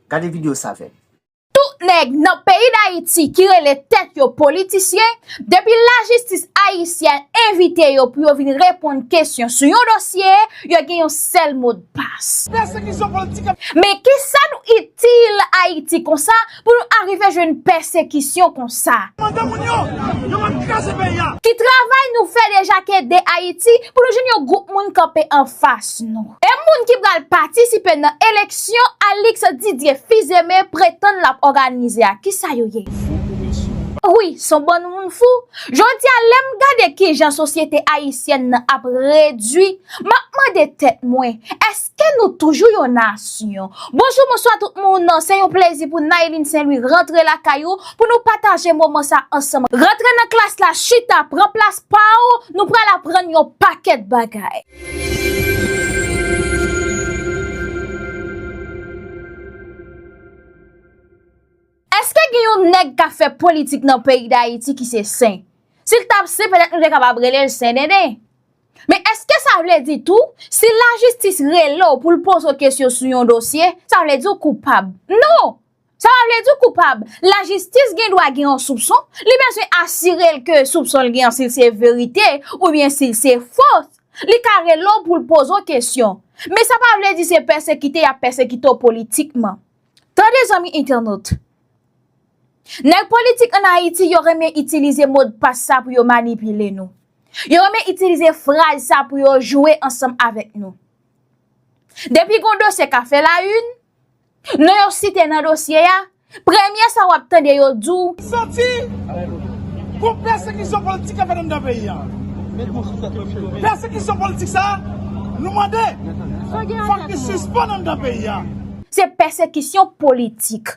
Gade video sa avem. Tout nèg nan peyi dayiti ki rele tèt yo politisyen, depi lajistis ayisyen envite yo pou yo vin reponn kesyon sou yon dosye, yo gen yon sèl modpas. Men kisa nou itil ayiti konsa Pou nou arive jwenn pèsekisyon konsa. Mande moun yo, yo mèt kraze peyi a. Ki travay nou fè deja k ede Ayiti pou nou jwenn yon gwoup moun kanpe anfas nou? E moun ki pral patisipe nan eleksyon Alix Didier Fils-Aimé pretann l ap òganize a, ki sa yo ye? Fou kou mesye. Wi, s on bann moun fou. Jodi a lè m gade ki jan sosyete ayisyèn nan ap redui, m ap mande tèt mwen, èske. Ke nou toujou yon nasyon. Bonjou bonswa tout moun, se yon plezi pou Nayline Saint Louis rantre lakay ou pou nou pataje moman sa ansanm. Rantre nan klas la, chita, pran plas pa ou, nou pral aprann yon pakèt bagay. Eske gen yon nèg kap fè politik nan peyi Dayiti ki se sen? Sil tap sen petèt nou te kapab rele l sen denden. Men eske sa vle di tou, si lajistis rele w pou l poze w kesyon sou yon dosye, sa vle di w koupab? Non! Sa pa vle di w koupab. Lajistis gen dwa gen yon soupson, li bezwen asire l ke soupson l gen an si l se verite oubyen si l se fo, li ka rele w pou l poze w kesyon. Men sa pa vle di se pèsekite y ap pèsekite w politikman. Tande zanmi entènot! Nèg politik an Ayiti yo renmen itilize modpas sa pou yo manipile nou. Yo renmen itilize fraz sa pou yo jwe ansanm avèk nou. Depi gon dosye ka fè la yn, non yo site nan dosye a, premye sa w ap tande yo di w, Santi pou pèsekisyon politik kap fèt anndan peyi a. Pèsekisyon politik sa a, nou mande fòk li sispann anndan peyi a. se pèsekisyon politik.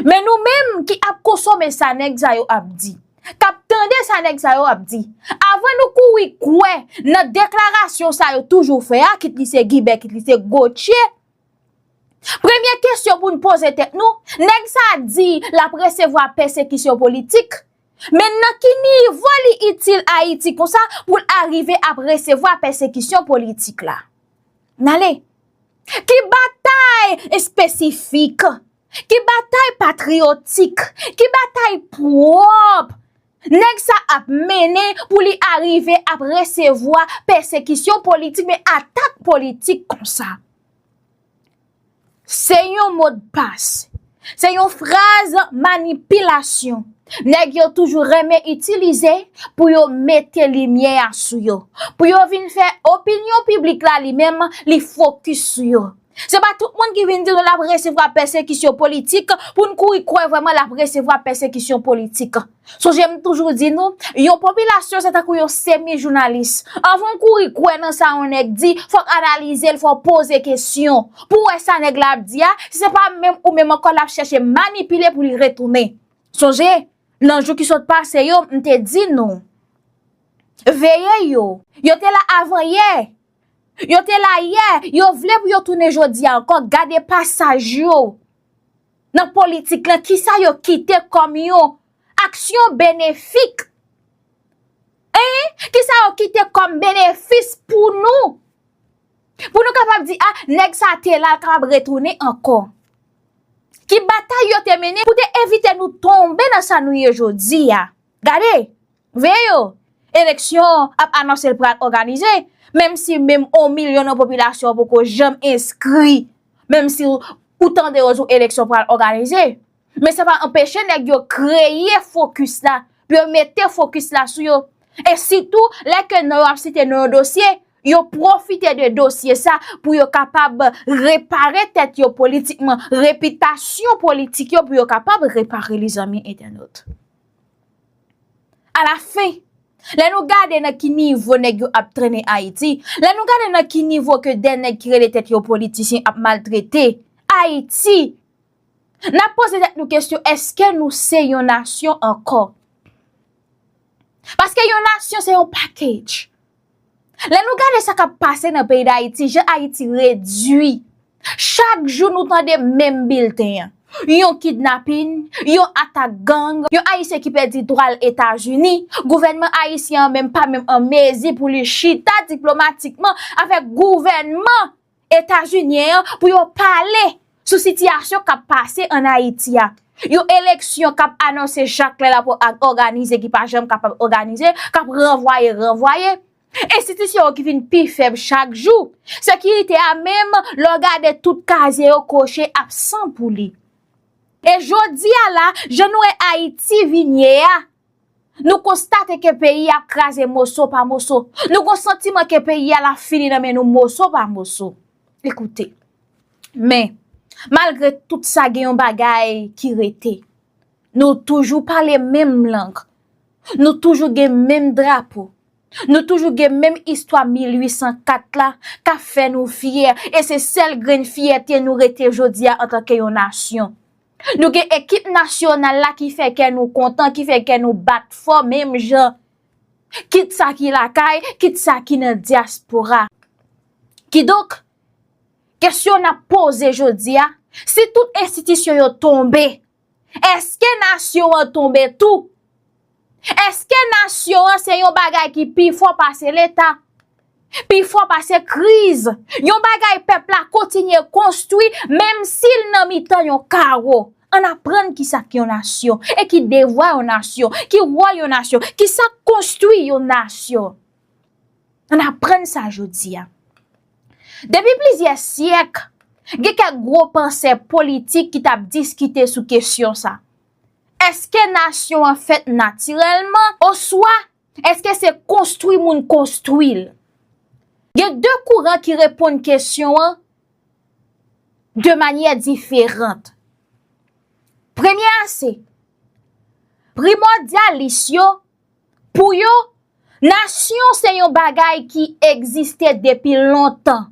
Men nou menm ki ap konsome sa nèg sa yo ap di, k ap tande sa nèg sa yo ap di, avan nou kouri kwè nan deklarasyon sa yo toujou fè a, kit li se Guibè, kit li se Gauthier, premye kesyon pou nou poze tèt nou, nèg sa di l ap resevwa pèsekisyon politik, men nan ki nivo li itil Ayiti konsa pou l arive ap resevwa pèsekisyon politik la? N ale. Ki batay espesifik, ki batay patriyotik, ki batay pwòp nèg sa ap mennen pou li arive ap resevwa pèsekisyon politik men atak politik konsa? Se yon modpas. Se yon fraz manipilasyon nèg yo toujou renmen itilize pou yo mete limyè a sou yo. Pou yo vin fè opinyon piblik la li menm li fokis sou yo. Se pa tout moun ki vin di nou l ap resevwa pèsekisyon politik pou n kouri kwè vreman l ap resevwa pèsekisyon politik. Sonje m toujou di nou, yon popilasyon se tankou yon semi jounalis. Anvan w kouri kwè nan sa yon nèg di, fò w analize l, fò w poze kesyon. Pou w wè sa nèg la ap di a, si se pa menm ou menm ankò l ap chèche manipile pou li retounen. Sonje, nan jou ki sot pase yo, m te di nou, veye yo, yo te la avan yè, yo te la yè, yo vle pou yo tounen jodi a ankò, gade pasaj yo. nan politik lan, ki sa yo kite kòm yon aksyon benefik, ee, ki sa yo kite kòm benefis pou nou, pou nou kapab di, a, nèg sa te la, l kapab retounen ankò. Ki batay yo te mennen pou te evite nou tonbe nan sa nou ye jodi a. Gade! Veye yo! Eleksyon ap anonse l pral òganize, menm si menm on milyon nan popilasyon an poko janm enskri, menm si ou tande yo di w eleksyon pral òganize. Men sa pa anpeche nèg yo kreye fokis la, pou yo mete fokis la sou yo. E sitou, lè ke non yo ap site nan yon dosye, yo pwofite de dosye sa pou yo kapab repare tèt yo politikman, repitasyon politik yo pou yo kapab repare li zanmi entènot. A la fen, lè nou gade nan ki nivo nèg yo ap trennen Ayiti, lè nou gade nan ki nivo ke dè nèg ki rele tèt yo politisyen ap maltrete Ayiti, n ap poze tèt nou kesyon eske nou se yon nasyon ankò? Paske yon nasyon se yon package. Lè nou gade sa kap pase nan peyi Dayiti, jan Ayiti redui, chak jou nou tande menm bilten an. Yon kidnapin, yon atak gang, yon Ayisyen ki pèdi dwa l Etazini, gouvènman Ayisyen an menm pa menm an mezi pou li chita diplomatikman avèk gouvènman. Etazunyen an pou yo pale sou sitiyasyon kap pase an Ayiti a. Yon eleksyon kap anonse chak lè lap òganize ki pa janm kapab òganize, kap ranvwaye ranvwaye. Enstitisyon yo ki vin pi fèb chak jou. Sekirite a menm lè w gade tout kazye yo koche absan pou li. E jodi a la, jan nou wè Ayiti vin ye a, Nou konstate ke peyi a ap kraze moso pa moso. Nou gon santiman ke peyi a la fini nan men nou moso pa moso. Ekoute, men, malgre tout sa gen yon bagay ki rete. Nou toujou pale menm lang. Nou toujou gen menm drapo. Nou toujou gen menm istwa 1804 la ka fè nou fyè. E se sèl grenn fyète nou rete jodi a antanke yon nasyon. Nou gen ekip nasyonal la ki fè kè nou kontan, ki fè kè nou bat fò menm jan. Kit sa ki lakay, kit sa ki nan dyaspora. Kidonk, kesyon n ap poze jodi a, si tout enstitisyon yo tonbe, èske nasyon an tonbe tou? Eske nasyon an se yon bagay ki pi fò pase leta, pi fò pase kriz, yon bagay pèp la kontinye konstwi menm si l nan mitan yon kawo? Ann aprann ki sa k yon nasyon e ki devwa yon nasyon, ki wòl yon nasyon, ki sa k konstwi yon nasyon. Ann aprann sa jodi a. Depi plizyè syèk, gen kèk gwo pansè politik ki t ap diskite sou kesyon sa. Èske nasyon an fèt natirèlman oswa èske se konstwi moun konstwi l? Gen de kouran ki reponn kesyon an de manyè diferant. Premye a se, primòdyalis yo, pou yo, nasyon se yon bagay ki egziste depi lontan.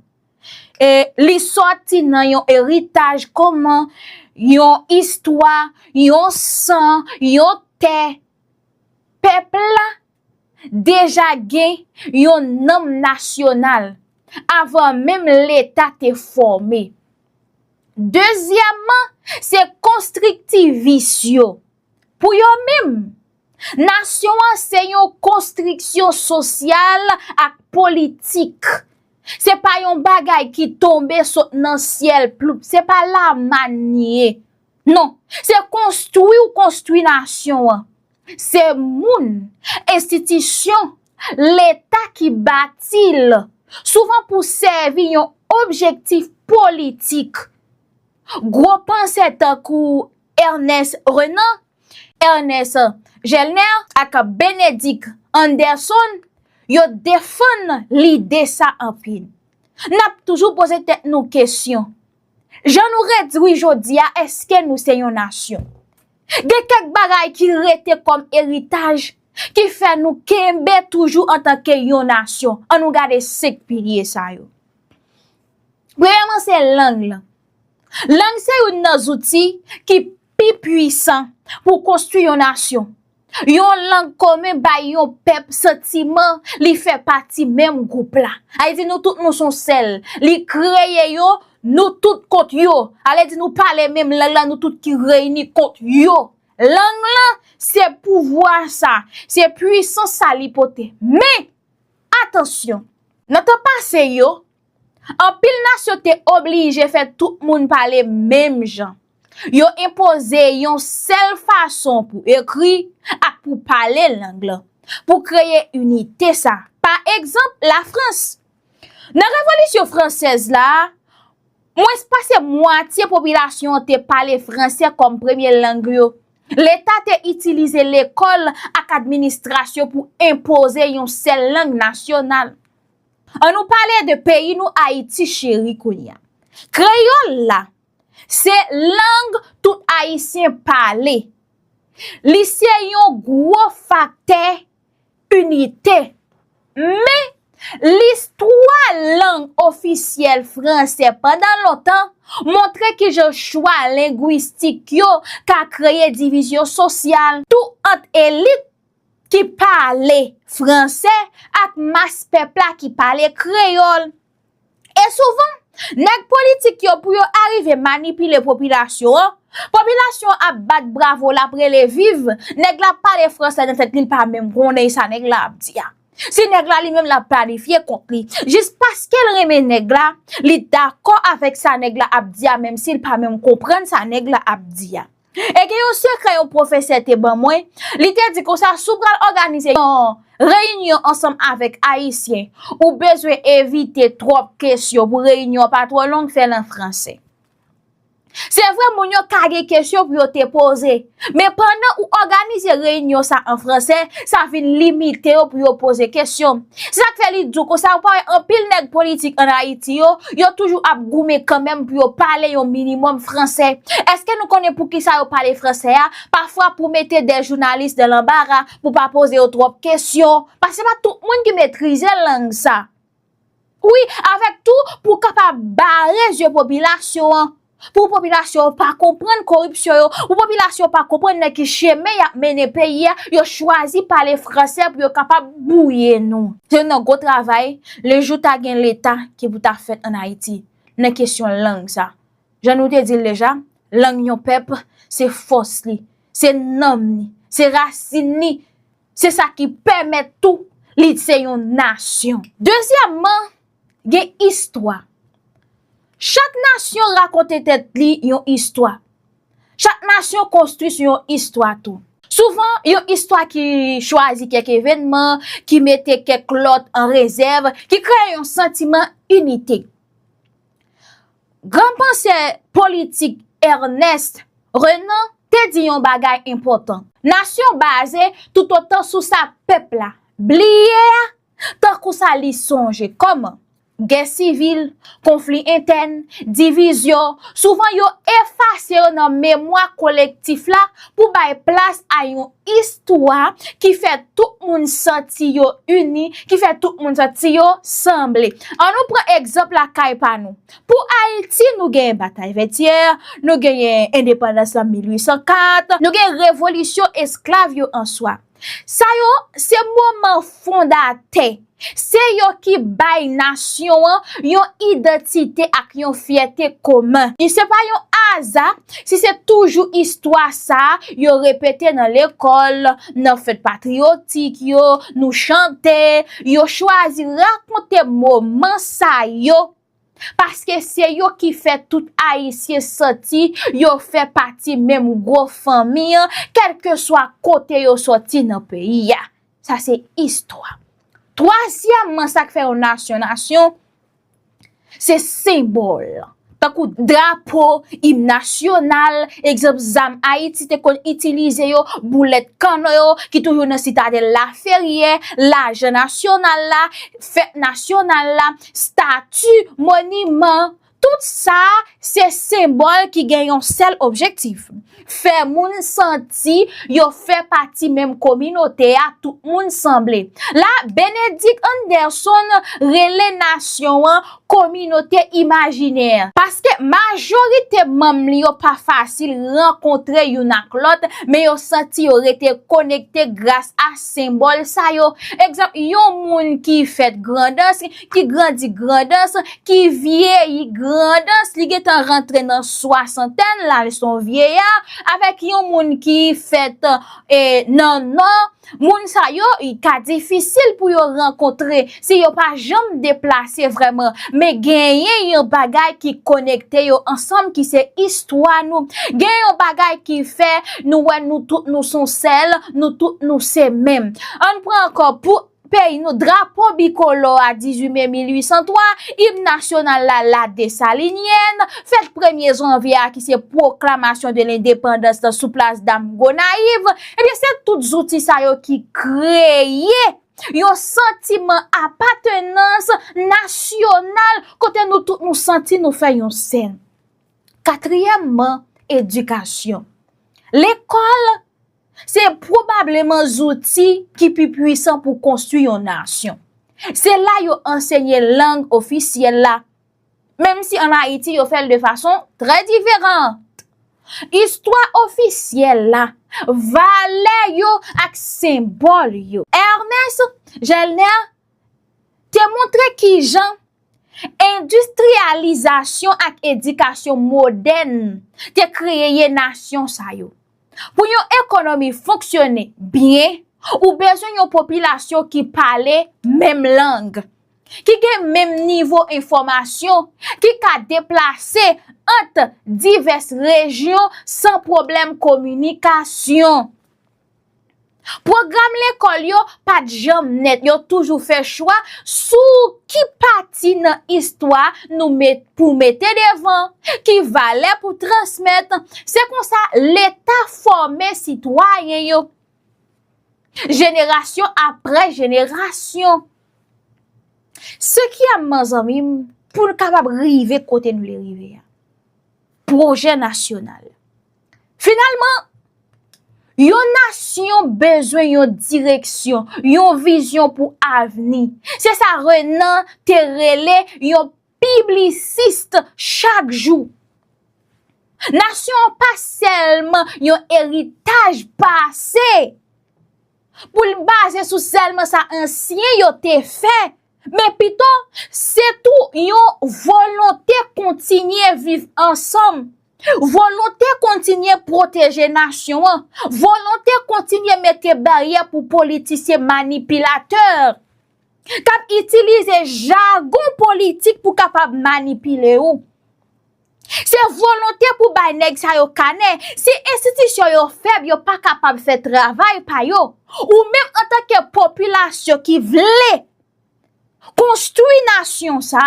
E li sòti nan yon eritaj koman yon istwa, yon san, yon tè. Pèp la deja gen yon nanm nasyonal avan menm leta te fòme. Dezyèmman, se konstriktivis yo. Pou yo menm, nasyon an se yon konstriksyon sosyal ak politik. Se pa yon bagay ki tonbe sot nan syèl ploup, se pa laman li ye. Non, se konstwi ou konstwi nasyon an. Se moun, enstitisyon, leta ki bati l, souvan pou sèvi yon objektif politik. Gwo pansè tankou Ernest Renan, Ernest Gelner ak Benedict Anderson yo defann lide sa anpil. N ap toujou poze tèt nou kesyon, jan nou redui jodi a èske nou se yon nasyon? Gen kèk bagay ki rete kòm eritaj ki fè nou kenbe toujou antanke yon nasyon. An nou gade senk pilye sa yo. Premyèman se lang lan. Lang se youn nan zouti ki pi puisan pou konstwi yon nasyon. Yon lang komen bay yon pèp santiman li fè pati menm gwoup la. A di nou tout nou son sèl. Li kreye yo, nou tout kont yo. A le di nou pale menm lang la, nou tout ki reyini kont yo. Lang lan, se pouvwa sa, se puisan sa li pote. Men, atansyon, nan tan pase yo, Anpil nasyon te oblije fè tout moun pale menm jan. Yo enpoze yon sèl fason pou ekri ak pou pale lang lan, pou kreye inite sa. Pa egzanp, Lafrans. Nan revolisyon fransèz la, mwens pase mwatye popilasyon an te pale franse kòm premye lang yo. Leta te itilize lekòl ak administrasyon pou enpoze yon sèl lang nasyonal. An nou pale de peyi nou Ayiti cheri kounya. Kreyòl la, se lang tout Ayisyen pale. Li se yon gwo faktè inite. Men, listwa lang ofisyèl franse pandan lontan montre ki jan chwa lengwistik yo ka kreye divizyon sosyal tou ant elit, ki pale franse ak mas pèp la ki pale kreyòl. E souvan, nèg politik yo pou yo arive manipile popilasyon an, popilasyon an ap bat bravo, l ap rele viv, nèg la ap pale franse nan tèt li, l pa menm konnen sa nèg la ap di a. Si nèg la li menm l ap planifye kont li, jis paske l renmen nèg la, li dakò avèk sa nèg la ap di a menmsi l pa menm konprann sa nèg la ap di a. E gen yon sekrè yon pwofesè te ban mwen, li te di konsa si w pral òganize yon reyinyon ansanm avèk Ayisyen, ou bezwen evite twòp kesyon pou reyinyon an pa twò long, fè l an franse. Se vre moun yo ka gen kesyon pou yo te poze, men pandan ou òganize reyinyon sa an franse, sa vin limite yo pou yo poze kesyon. Se sa k fè li di w konsa, ou pa wè anpil nèg politik an Ayiti yo, yo toujou ap goumen kanmenm pou yo pale yon minimòm franse. Eske nou konnen pou ki sa yo pale franse a? Pafwa pou mete dè jounalis nan lanbara, pou pa poze yo twòp kesyon. Paske se pa tout moun ki metrize lang sa. Wi, avèk tou pou kapab bare zye popilasyon an. Pou popilasyon an pa konprann koripsyon yo, pou popilasyon an pa konprann nan ki chemen y ap mennen peyi a, yo chwazi pale franse pou yo kapab bwouye nou. Se nan gwo travay, le jou ta gen leta ki pou ta fèt ann Ayiti, nan kesyon lang sa. Jan nou te di l deja, lang yon pèp, se fòs li, se nanm li, se rasin li, se sa ki pèmèt tou li se yon nasyon. Dezyèmman, gen istwa. Chak nasyon rakonte tèt li yon istwa. Chak nasyon konstwi sou yon istwa tou. Souvan, yon istwa ki chwazi kèk evènman, ki mete kèk lòt an rezèv, ki kreye yon santiman inite. Gran pansè politik Ernest Renan te di yon bagay enpòtan. Nasyon baze toutotan sou sa pèp la bliye a Tankou sa li sonje kòman, gè sivil, konfli entèn, divizyon, souvan yo efase yo nan memwa kolektif la pou bay plas a yon istwa ki fè tout moun santi yo ini, ki fè tout moun santi yo sanble. An nou pran egzanp lakay pa nou. Pou Ayiti, nou genyen batay Vètyè, nou genyen endepandans lan 1804, nou gen revolisyon esklav yo an swa. Sa yo, se moman fondatè. Se yo ki bay nasyon an yon idantite ak yon fyète komen. E se pa yon aza si se toujou istwa sa a yo repete nan lekòl, nan fèt patriyotik yo, nou chante, yo chwazi rakonte moman sa yo Paske se yo ki fè tout Ayisyen santi yo fè pati menm gwo fanmi an, kèlkeswa kote yo soti nan peyi a. Sa se istwa. Twazyèmman, sa k fè yon nasyon nasyon, se senbòl. Tankou drapo, im nasyonal, egzanp zam Ayiti te konn itilize yo, boulèt kannon yo ki toujou nan Sitadèl Laferyè, lajan nasyonal la, fèt nasyonal la. stati, moniman, tout sa se senbòl ki gen yon sèl objektif, fè moun santi yo fè pati menm kominote a, tout moun sanble. La, Bénédict Anderson rele nasyon an kominote imajinè. Paske majorite manm li yo pa fasil rankontre youn ak lòt, men yo santi yo rete konekte gras a. Senbòl sa yo, egzanp, yon moun ki fèt Grandans, ki grandi Grandans, ki vyeyi Grandans, li gen tan rantre nan swasantèn, la l son vyeya, avèk yon moun ki fèt nan Nò, moun sa yo, ka difisil pou yo rankontre. Si yo pa janm deplase vrèman, men genyen yon bagay ki konekte yo ansanm ki se istwa nou. Gen yon bagay ki fè nou wè nou tout nou son sèl, nou tout nou se menm. An n pran ankò pou peyi nou, drapo bikolò a 18 me 1803, im nasyonal la La Dessalinienne, fèt premye janvye a ki se pwoklamasyon de lendepandans la sou plas dam Gonayiv, ebyen se tout zouti sa yo ki kreye. yon santiman apatenans nasyonal kote nou tout nou santi nou fè yon sèl. Katriyèmman, edikasyon. Lekòl se pwobableman zouti ki pi pwisan pou konstwi yon nasyon. Se la yo ansenye lang ofisyèl la. Menm si an Ayiti yo fè l de fason trè diferant. Istwa ofisyèl la, valè yo ak senbòl yo. Ernest Gelner te montre ki jan endistriyalizasyon ak edikasyon modèn te kreye nasyon sa yo. Pou yon ekonomi fonksyone byen, ou bezwen yon popilasyon ki pale menm lang, ki gen menm nivo enfòmasyon, ki ka deplase ant divès rejyon san pwoblèm kominikasyon. Pwogram lekòl yo pa t janm nèt, yo toujou fè chwa sou ki pati nan istwa nou met pou mete devan, ki valè pou transmèt, se konsa Leta fòme sitwayen yo jenerasyon aprè jenerasyon. Se ki a manzanmi m pou n kapab rive kote n vle rive a? Pwojè nasyonal. Finalman, yon nasyon bezwen yon direksyon, yon vizyon pou avni. Se sa Renan te rele yon piblisist chak jou. Nasyon an pa sèlman yon eritaj pase pou l baze sou sèlman sa ansyen yo te fè. Men pito, se tou yon volonte kontinye viv ansanm, volonte kontinye pwoteje nasyon an, volonte kontinye mete baryè pou politisyen manipilatè k ap itilize jagon politik pou kapab manipile ou. Se volonte pou bay nèg sa yo kanè, si enstitisyon yo fèb yo pa kapab fè travay pa yo, ou menm antanke popilasyon ki vle konstwi nasyon sa,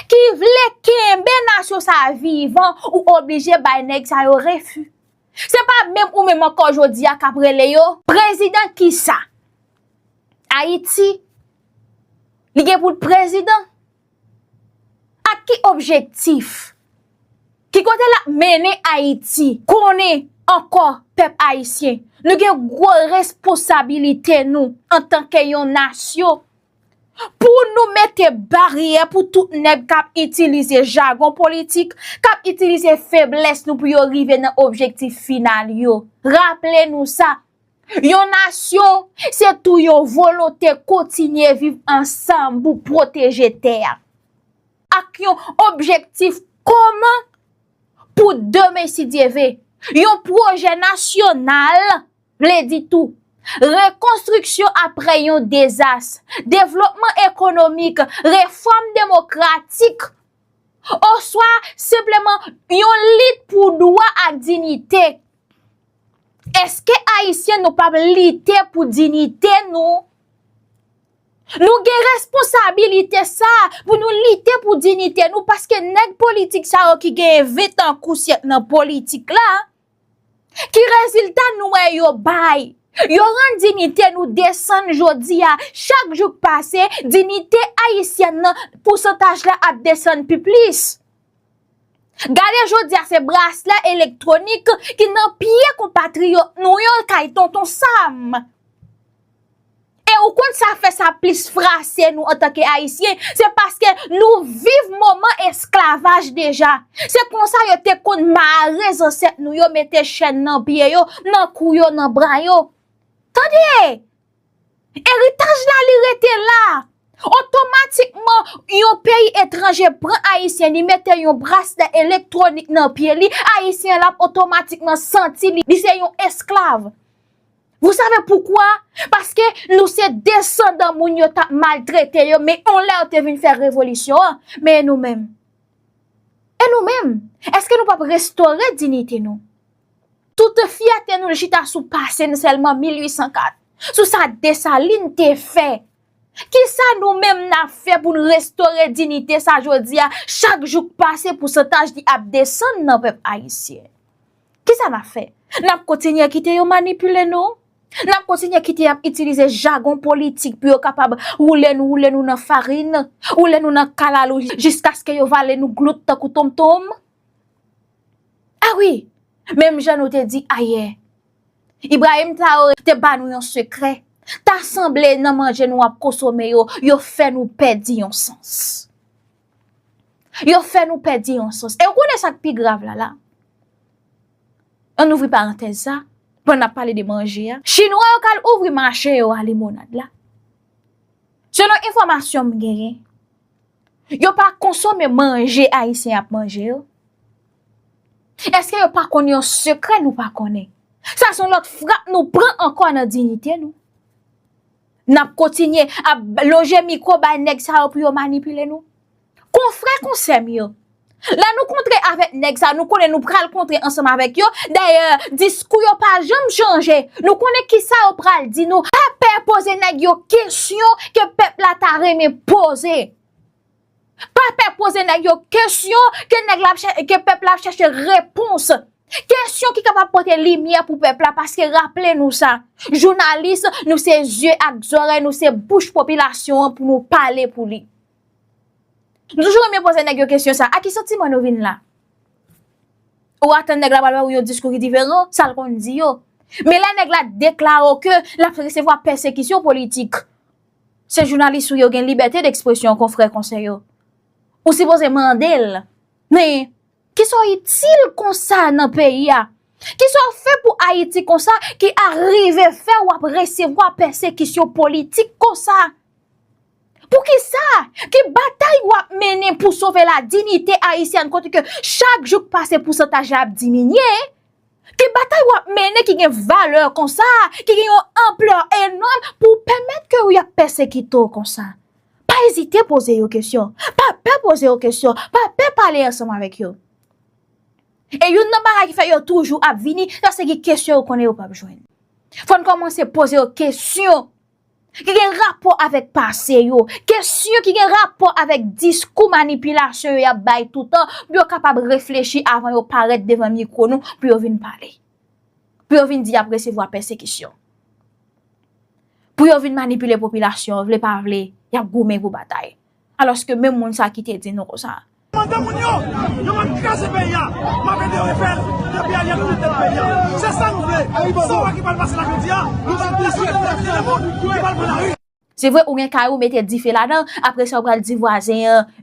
ki vle kenbe nasyon sa vivan ou oblije bay nèg sa yo refi. Se pa menm ou menm ankò jodi a k ap rele yo. Prezidan kisa? Ayiti li gen pou l prezidan? Ak ki objektif? Ki kote l ap mennen Ayiti? Konnen ankò pèp ayisyen, nou gen gwo resposabilite nou antanke yon nasyon pou nou mete baryè pou tout nèg k ap itilize jagon politik, k ap itilize feblès nou pou yo rive nan objektif final yo. Raple nou sa, Yon nasyon, se tou yon volonte kontinye viv ansanm pou pwoteje tè a. Ak yon objektif komen pou demen si Dye ve. Yon pwojè nasyonal vle di tou, rekonstriksyon apre yon dezas, devlopman ekonomik, refòm demokratik Oswa, senpleman, yon lit pou dwa ak dinite. Eske Ayisyen nou pap lite pou dinite nou? Nou gen responsabilite sa a pou nou lite pou dinite nou paske nèg politik sa yo ki genyen ventan kou syèk nan politik la, Ki rezilta nou wè yo bay? Yo rann dinite nou desann jodi a. Chak jou k pase, dinite ayisyèn nan, pousantaj la ap desann pi plis. Gade jodi a se braslè elektwonik ki nan pye konpatriyòt nou yo kay Tonton Sam. E ou konn sa fè sa plis frase nou antanke Ayisyen, se paske nou viv moman esklavaj deja. Se konsa yo te konn mare zansèt nou yo mete chèn nan pye yo, nan kou yo, nan bra yo. Tande! Eritaj la li rete la. Otomatikman, yon peyi etranje pran Ayisyen, li mete yon braslè elektwonik nan pye li, Ayisyen la otomatikman santi li se yon esklav. Vous savez pourquoi? Paske nou se desandan moun yo tap maltrete yo men on lè yo te vin fè revolisyon an, men e nou menm? E nou menm? Eske nou pap restore dinite nou? Tout fyète nou chita sou pase n sèlman 1804, sou sa Dessalines te fè. Kisa nou menm n ap fè pou n restore dinite sa jodi a, chak jou k pase pousantaj li ap desann nan pèp ayisyen? Kisa n ap fè? N ap kontinye kite yo manipile nou? N ap kontinye kite y ap itilize jagon politik pou yo kapab woule nou, woule nou nan farin, woule nou nan kalalou jiskaske yo vale nou glout tankou tonmtonm? A wi! Menm jan nou te di ayè, Ibrahim Traoré te ba nou yon sekrè, ta sanble nan manje nou ap konsome yo, yo fè nou pèdi yon sans. Yo fè nou pèdi yon sòs. E ou konnen sa k pi grav la la? An ouvri parantèz sa, pandan n ap pale de manje a. Chinwa yo k al ouvri mache yo a limonad la. Selon enfòmasyon m genyen, yo pa konsome manje Ayisyen ap manje yo. Eske yo pa konn yon sekrè nou pa konnen? Sa s on lòt frap nou pran ankò nan diyite nou. Nap kontinye ap lonje mikwo bay nèg sa yo pou yo manipile nou? Konfrè konsè m yo, lè nou kontre avèk nèg sa nou konnen nou pral kontre ansanm avèk yo, dayè diskou yo pa janm chanje, nou konnen kisa yo pral di nou, pa pè poze nèg yo kesyon ke pèp la ta renmen poze. Pa pè poze nèg yo kesyon ke nèg la ap chè, ke pèp la ap chèche repons. Kesyon ki kapab pote limyè pou pèp la paske raple nou sa, jounalis nou se zye ak zòrèy, nou se bouch popilasyon an pou nou pale pou li. Nou toujou renmen poze nèg yo kesyon sa, a ki santiman nou vin la? Ou atann nèg la pral bay ou yon diskou ki diferan sa l konn di yo. Men lè nèg la deklare w ke l ap resevwa pèsekisyon politik. Se jounalis ou ye ou gen libète dekspresyon konfrè konsè yo. Ou sipoze mande l, men, ki sa w itil konsa nan peyi a? Ki sa w fè pou Ayiti konsa ki arive fè w ap resevwa pèsekisyon politik konsa? Pou ki sa? Ki batay w ap mennen pou sove ladinite Ayisyèn kote ke chak jou k pase pousantaj la ap diminye? Ke batay w ap mennen ki gen valè konsa, ki gen yon anplè enòm pou pèmèt ke y ap pèsekite w konsa. Pa ezite poze yo kesyon. Pa pè poze yo kesyon. Pa pè pale ansanm avèk yo. E youn nan bagay ki fè yo toujou ap vini, sa se gen kesyon yo konnen yo p ap jwenn. Fò n kòmanse poze yo kesyon ki gen rapò avèk pase yo, kesyon ki gen rapò avèk diskou manipilasyon yo y ap bay toutan pou yo kapab reflechi avan yo parèt devan mikwo nou pou yo vin pale. Pou yo vin di y ap resevwa pèsekisyon. Pou yo vin manipile popilasyon, vle pa vle, y ap goumen pou batay. Alòske menm moun sa ki te di nou konsa. Mande moun yo, yo map kraze peyi a, map ede yo refè l depi Ariel fin tèt peyi a. Se sa nou vle. Sa w wè ki pral pase la jodi a, nou pral pwouve tout Ayisyen nan mond ki pral pran lari. Se vre ou gen kay ou mete dife ladan, apre sa ou pral di vwazen an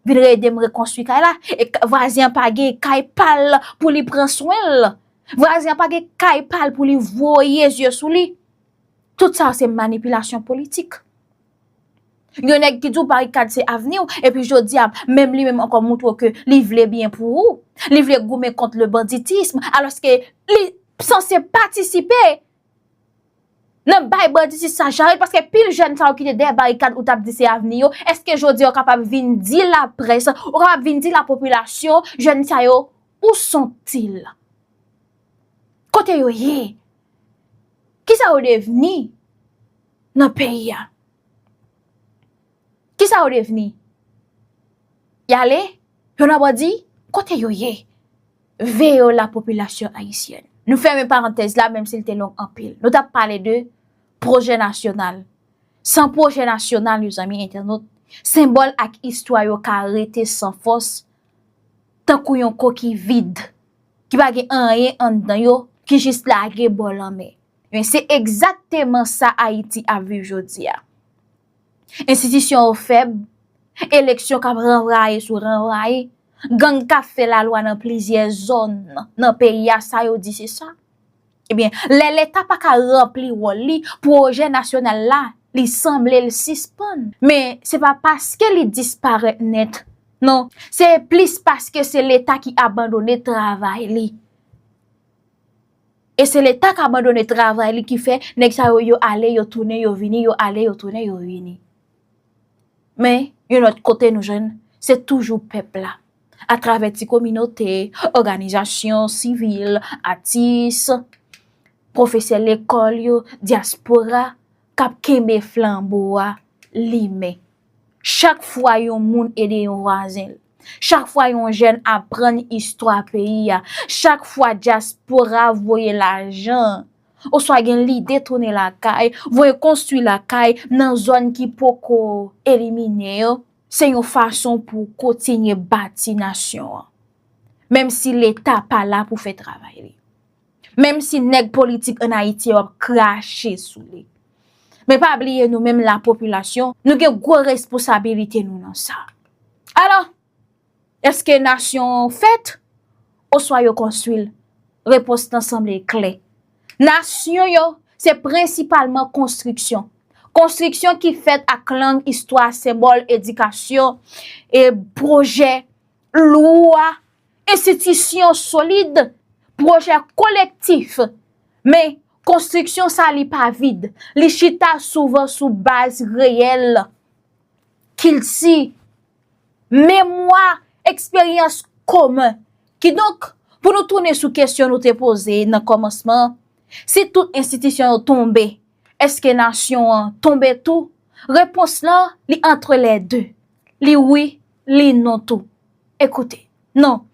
vin ede m rekonstwi kay la. E vwazen an pa gen kay pa l pou li pran swen l. Vwazen an pa gen kay pa l pou li voye zye sou li. Tout sa se manipilasyon politik. Yon nèg ki di w barikad se avni w, epi jodi a, menm li menm ankò montre w ke li vle byen pou ou, li vle goumen kont le banditism, alòske li sanse patisipe nan bay banditis sa jarèt, paske pil jèn sa yo ki te dèyè barikad ou t ap di se avni yo, èske jodi a ou kapab vin di laprès, ou kapab vin di lapopilasyon, jèn sa yo, ou son til? Kote yo ye? Kisa yo devni? nan peyi a. Kisa yo devni? Yale, yo nan bandi, kote yo ye? Veye yo la popilasyon ayisyèn. Nou fèmen parantèz la menm si l te long anpil. Nou tap pale de pwojè nasyonal. San pwojè nasyonal yo zanmi entènot, senbòl ak istwa yo ka rete san fòs tankou yon koki vid ki pa gen anyen anndan yo ki jis lage bò lanmè. Ebyen se egzakteman sa Ayiti ap viv jodi a. Enstitisyon yo fèb, eleksyon k ap ranvwaye sou ranvwaye, gang k ap fè lalwa nan plizyè zòn nan peyi a sa yo di se sa. Ebyen lè leta pa ka ranpli wòl li, pwojè nasyonal la li sanble l sispann. Men se pa paske li disparèt nèt non, se plis paske se leta ki abandone travay li. E se leta k abandone travay li ki fè nèg sa yo yo ale yo tounen yo vini, yo ale yo tounen yo vini. Men, yon lòt kote nou jwenn, se toujou pèp la. A travè ti kominote, òganizasyon, sivil, atis, pwofesè lekòl yo, dyaspora, k ap kenbe flanbo a limen. Chak fwa yon moun ede yon vwazen l, chak fwa yon jèn aprann istwa peyi a, chak fwa dyaspora voye lajan oswa gen lide tounen lakay, voye konstwi lakay nan zòn ki poko elimine yo, se yon fason pou kontinye bati nasyon an. Menm si Leta pa la pou fè travay li. Menm si nèg politik an Ayiti yo ap krache sou li. Men pa bliye nou menm la popilasyon, nou gen gwo resposabilite nou nan sa. Alò, eske nasyon an fèt? Oswa yo konstwi l? Repons lan sanble klè. Nasyon yo, se prensipalman konstriksyon. Konstriksyon ki fèt ak lang, istwa, senbòl, edikasyon, e pwojè, lwa. Enstitisyon solid, pwojè kolektif. Men, konstriksyon sa li pa vid. Li chita souvan sou baz reyèl, kilti, memwa, eksperyans komen. Kidonk, pou nou tounen sou kesyon nou te poze nan kòmansman an, si tout enstitisyon yo tonbe, èske nasyon an tonbe tou? Repons lan, li antre lè de. Li wi, Li non tou. Ekoute. Non.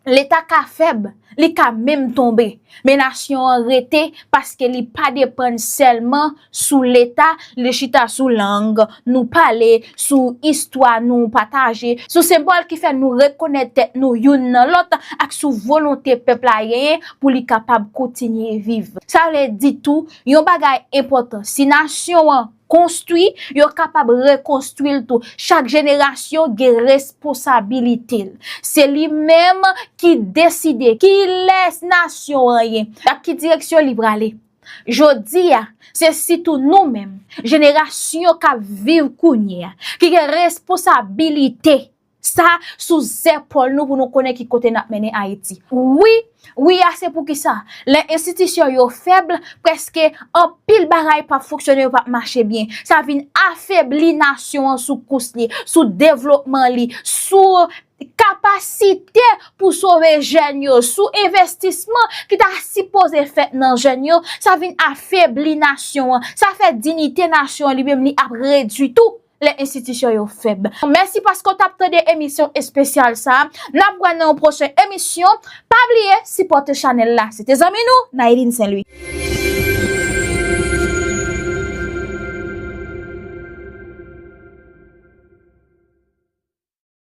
Leta ka fèb, li ka menm tonbe, men nasyon an rete paske li pa depann sèlman sou leta, li chita sou lang nou pale, sou istwa nou pataje, sou senbòl ki fè nou rekonèt tèt nou youn nan lòt ak sou volonte pèp la genyen pou li kapab kontinye viv. Sa vle di tou, yon bagay enpòtan, si nasyon an. Konstwi, yo kapab rekonstwi l tou. Chak jenerasyon gen responsabilite l. Se li menm ki deside kilès nasyon an ye, ak ki direksyon li prale. Jodi a, se sitou nou menm, jenerasyon k ap viv kounye a, ki gen responsabilite. Sa sou zèpòl nou pou nou konnen ki kote n ap mennen Ayiti. Wi, wi a se pou ki sa, lè enstitisyon yo fèb, prèske anpil bagay p ap fonksyone, yo p ap mache byen. Sa vin afebli nasyon an sou kous li, sou devlopman li, sou kapasite pou sove jèn yo, sou envestisman ki ta sipoze fèt nan jèn yo, sa vin afebli nasyon an, sa fè dinite nasyon an li menm li ap redui tou. lè enstitisyon yo fèb. Mèsi paske w t ap tande emisyon espesyal sa a. N ap wè nan yon pwochen emisyon. Pa bliye sipòte chanèl la. Se te zanmi nou, Naëline St. Louis.